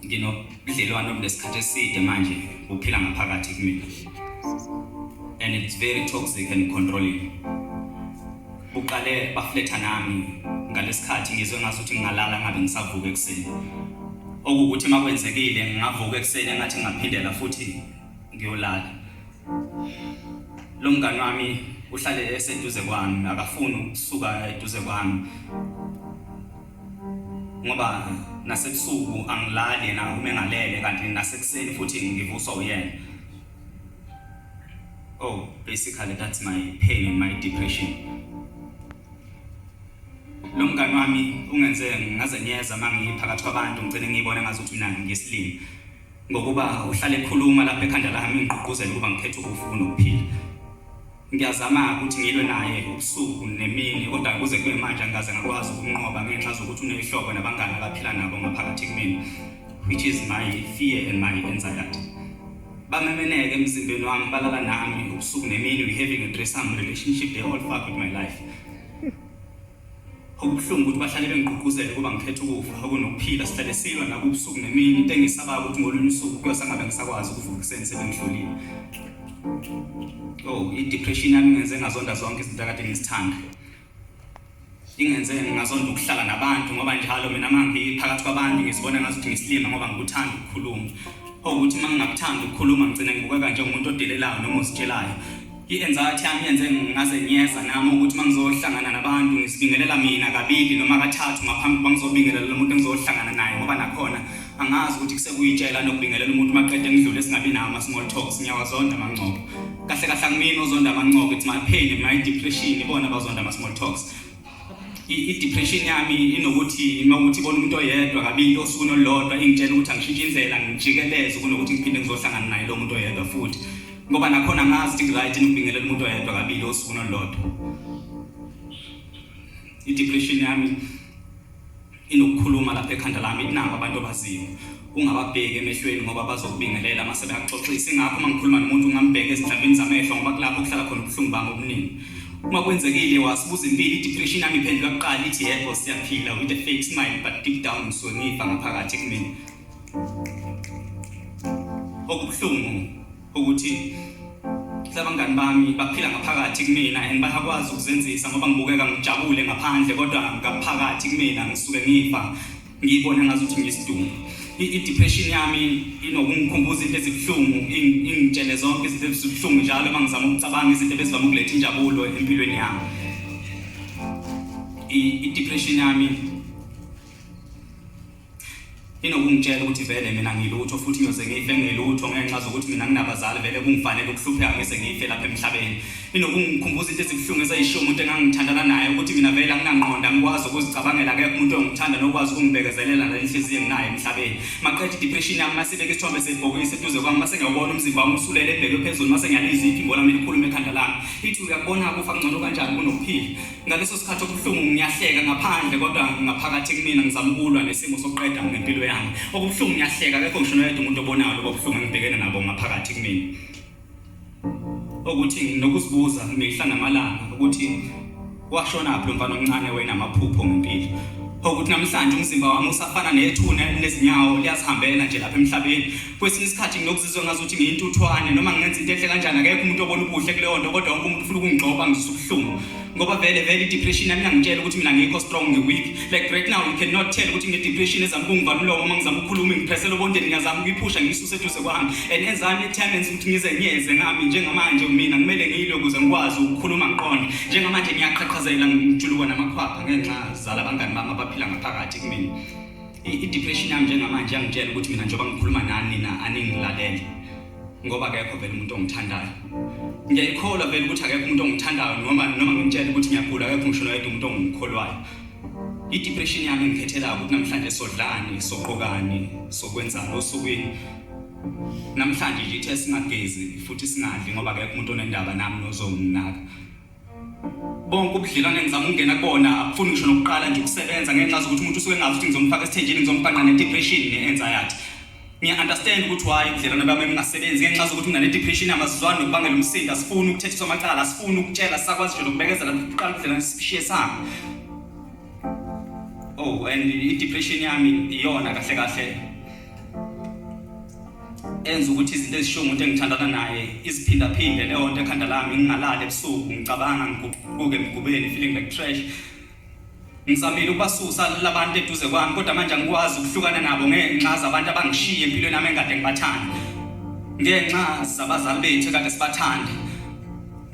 nginobudlelwano obunesikhathi eside manje uphila ngaphakathi kumina and it's very toxic and controlling uqale bafletha nami ngalesikhathi ngizwe ngathi ukuthi ngingalala ngabe ngisavuka ekuseni okuwukuthi uma kwenzekile ngingavuka ekuseni engathi ngingaphindela futhi ngiyolala lo mngani wami uhlale eseduze kwami akafuni ukusuka eduze kwami ngoba nasebusuku angilali yena uma engalele kanti nasekuseni futhi ngivuswa uyena oh basically that's my pain and my depression lo mngani wami ungenze ngaze nyeza uma ngiphakathi kwabantu ngicine ngiyibone ngazi ukuthi mina ngisilimi ngokuba uhlale ekhuluma lapha ekhanda lami ngigqugquzela ukuba ngikhethe ukufa kunokuphila Ngiyazama-ke ukuthi ngilwe naye ubusuku nemini kodwa kuze kube manje angikaze ngakwazi ukumnqoba ngenxa zokuthi unehlobo nabangani abaphila nabo ngaphakathi kumina which is my fear and my anxiety. Bamemeneke emzimbeni wami balala nami ubusuku nemini we having a threesome relationship they all fuck with my life. Okubuhlungu ukuthi bahlale bengigqugquzela ukuba ngikhethe ukufa okunokuphila sihlale silwa nakubusuku nemini into engisabayo ukuthi ngolunye usuku kuyosangabe ngisakwazi ukuvuka ekuseni sebengihlolile oh i-depression yami ingenze ngazonda zonke izinto akade ngizithanda ingenze ngingazonda ukuhlala nabantu ngoba njalo mina uma ngiphakathi kwabantu ngizibona ngathi ukuthi ngisilima ngoba ngikuthanda ukukhuluma okuthi uma ngingakuthandi ukukhuluma ngigcine ngibukeka njengomuntu odelelayo noma ozitshelayo I-anxiety yami yenze ngazenyeza nami ukuthi uma ngizohlangana nabantu ngisibingelela mina kabili noma kathathu ngaphambi kokuba ngizobingelela lo muntu engizohlangana naye ngoba nakhona angazi ukuthi kusekuyitshela nokubingelela umuntu maqede ngidlule esingabi nawo ama-small talks ngiyawazonda amangcobo kahle kahle angimini ozonda amangcobo it's my pain my depression ibona abazonda ama-small talks i-depression yami inokuthi uma ukuthi ibona umuntu oyedwa kabili osukwini olulodwa ingitshela ukuthi angishintshe indlela ngijikeleze kunokuthi ngiphinde ngizohlangana naye lo muntu oyedwa futhi ngoba nakhona ngazi ukuthi ngiright ngibingelela umuntu oyedwa kabili osuku nolodwa i-depression yami inokukhuluma lapha ekhanda lami inabo abantu abaziyo ungababheki emehlweni ngoba bazokubingelela mase beyaxoxisa ingakho uma ngikhuluma nomuntu ungambheki ezinhlamvini zamehlo ngoba kulapho kuhlala khona ubuhlungu bami obuningi uma kwenzekile wasibuza impilo i-depression yami iphendula kuqala ithi yebo siyaphila with a fake smile but deep down ngisuke ngifa ngaphakathi kumina okubuhlungu ukuthi labangani bami baphila ngaphakathi kumina and bayakwazi ukuzenzisa ngoba ngibukeka ngijabule ngaphandle kodwa ngaphakathi kumina ngisuke ngifa ngiyibona ngazi ukuthi ngiyisidumbu i-depression yami inokungikhumbuza into ezibuhlungu ingitshele zonke izinto ezibuhlungu njalo uma ngizama ukucabanga izinto ebezivama ukuletha injabulo empilweni yami i-depression yami inokungitshela ukuthi vele mina ngilutho futhi ngiyoze ngife ngilutho ngenxa zokuthi mina nginabazali vele kungifanele ukuhlupheka ngise ngife lapha emhlabeni inokungikhumbuza into ezibuhlungu ezayishiwo umuntu engangithandana naye ukuthi mina vele anginangqondo angikwazi ukuzicabangela akekho umuntu ongithanda nokwazi ukungibekezelela nenhliziyo enginayo emhlabeni maqeda idepression yami masibeke isithombe sebhokisi eduze kwami mase ngiyawubona umzimba wami usulele ebheke phezulu mase ngiyaliziphi imbola mina ikhulume ekhanda lami ithi uyakubona kufa ngcono kanjani kunokuphila Ngaleso sikhathi okubuhlungu ngiyahleka ngaphandle kodwa ngaphakathi kumina ngizama ukulwa nesimo sokuqeda ngempilo yami. Okubuhlungu ngiyahleka akekho ngisho noyedwa umuntu obonayo lokho kubuhlungu engibhekene nabo ngaphakathi kumina. Ukuthi nginokuzibuza mihla namalanga ukuthi washona phi umfana omncane wena amaphupho ngempilo. Ukuthi namhlanje umzimba wami usafana nethuna elinezinyawo liyazihambela nje lapha emhlabeni. kwesinye isikhathi nginokuzizwa ngazuthi ngiyintuthwane noma ngenza into enhle kanjani akekho umuntu obona ubuhle kuleyo nto kodwa wonke umuntu ufuna ukungigxoba ngizisa ubuhlungu ngoba vele vele i-depression yami ingangitshela ukuthi mina ngikho strong ngi-weak like right now you cannot tell ukuthi ngine-depression ezama ukungivala umlomo uma ngizama ukukhuluma ngiphesela obondeni ngiyazama ukuyiphusha ngiyisuse eduze kwami and enzami ethamenzi ukuthi ngize ngiyeze ngami njengamanje mina kumele ngiyilwe ukuze ngikwazi ukukhuluma ngiqonde njengamanje ngiyaqhaqhazela ngijulukwa namakhwapha ngenxa zala abangani bami abaphila ngaphakathi kumina I-depression yami njengamanje yangitshela ukuthi mina njengoba ngikhuluma nani nina aningilalele ngoba akekho vele umuntu ongithandayo ngiyayikholwa vele ukuthi akekho umuntu ongithandayo noma noma ngimtshela ukuthi ngiyagula akekho ngisho noyedwa umuntu ongimkholwayo i-depression yami engikhethelayo ukuthi namhlanje sodlani soqokani sokwenzani osukwini namhlanje nje ithe singagezi futhi singadli ngoba akekho umuntu onendaba nami nozonginaka bonke ubudlelwane ngizama ukungena kubona akufuni ngisho nokuqala nje ukusebenza ngenxa zokuthi umuntu usuke engazi ukuthi ngizomfaka esithenjini ngizombhanqa ne-depression ne-anxiety ngiya-understand ukuthi why ubudlelwane bami ebungasebenzi ngenxa zokuthi mina ne-depression amazizwani nokubangela umsindo asifuni ukuthethiswa amacala asifuni ukutshela sakwazi nje nokubekezela kuqala ubudlelwane sishiye sami oh and i-depression yami iyona kahle kahle enza ukuthi izinto ezishiwo umuntu engithandana naye iziphindaphinde leyo nto ekhanda lami ngingalali ebusuku ngicabanga ngiguquke emgubeni feeling like trash ngizamile ukubasusa labantu eduze kwami kodwa manje angikwazi ukuhlukana nabo ngenxa zabantu abangishiye empilweni yami engade ngibathanda ngenxa zabazali bethu ekade sibathanda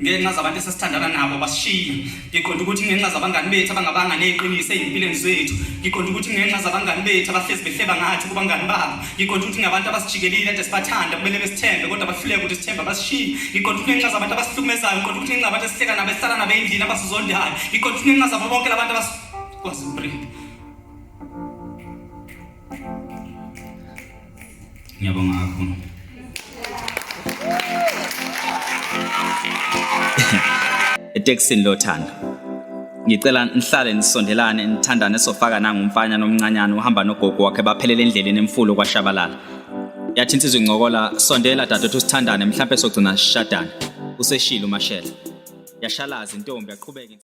ngenxa zabantu esesithandana nabo basishiya ngiqonda ukuthi ngenxa zabangani bethu abangabanga neqiniso ezimpilweni zethu ngiqonda ukuthi ngenxa zabangani bethu abahlezi behleba ngathi kubangani babo ngiqonda ukuthi ngabantu abasijikelile ade sibathanda kumele besithembe kodwa bahluleke ukuthi sithembe basishiye ngiqonda ukuthi ngenxa zabantu abasihlukumezayo ngiqonda ukuthi ngenxa zabantu esihleka nabo esihlala nabo endlini abasizondayo ngiqonda ukuthi ngenxa zabo bonke labantu abasikwazi ubrinde Ngiyabonga kakhulu. Etekisini lothando. Ngicela nihlale nisondelane nithandane sofaka nangumfana nomncanyana uhamba nogogo wakhe baphelele endleleni emfulu kwashabalala. Yathi insizwa incokola sondela dadethu sithandane mhlambe sogcina sishadana. Useshilo mashela. Yashalaza intombi yaqhubeka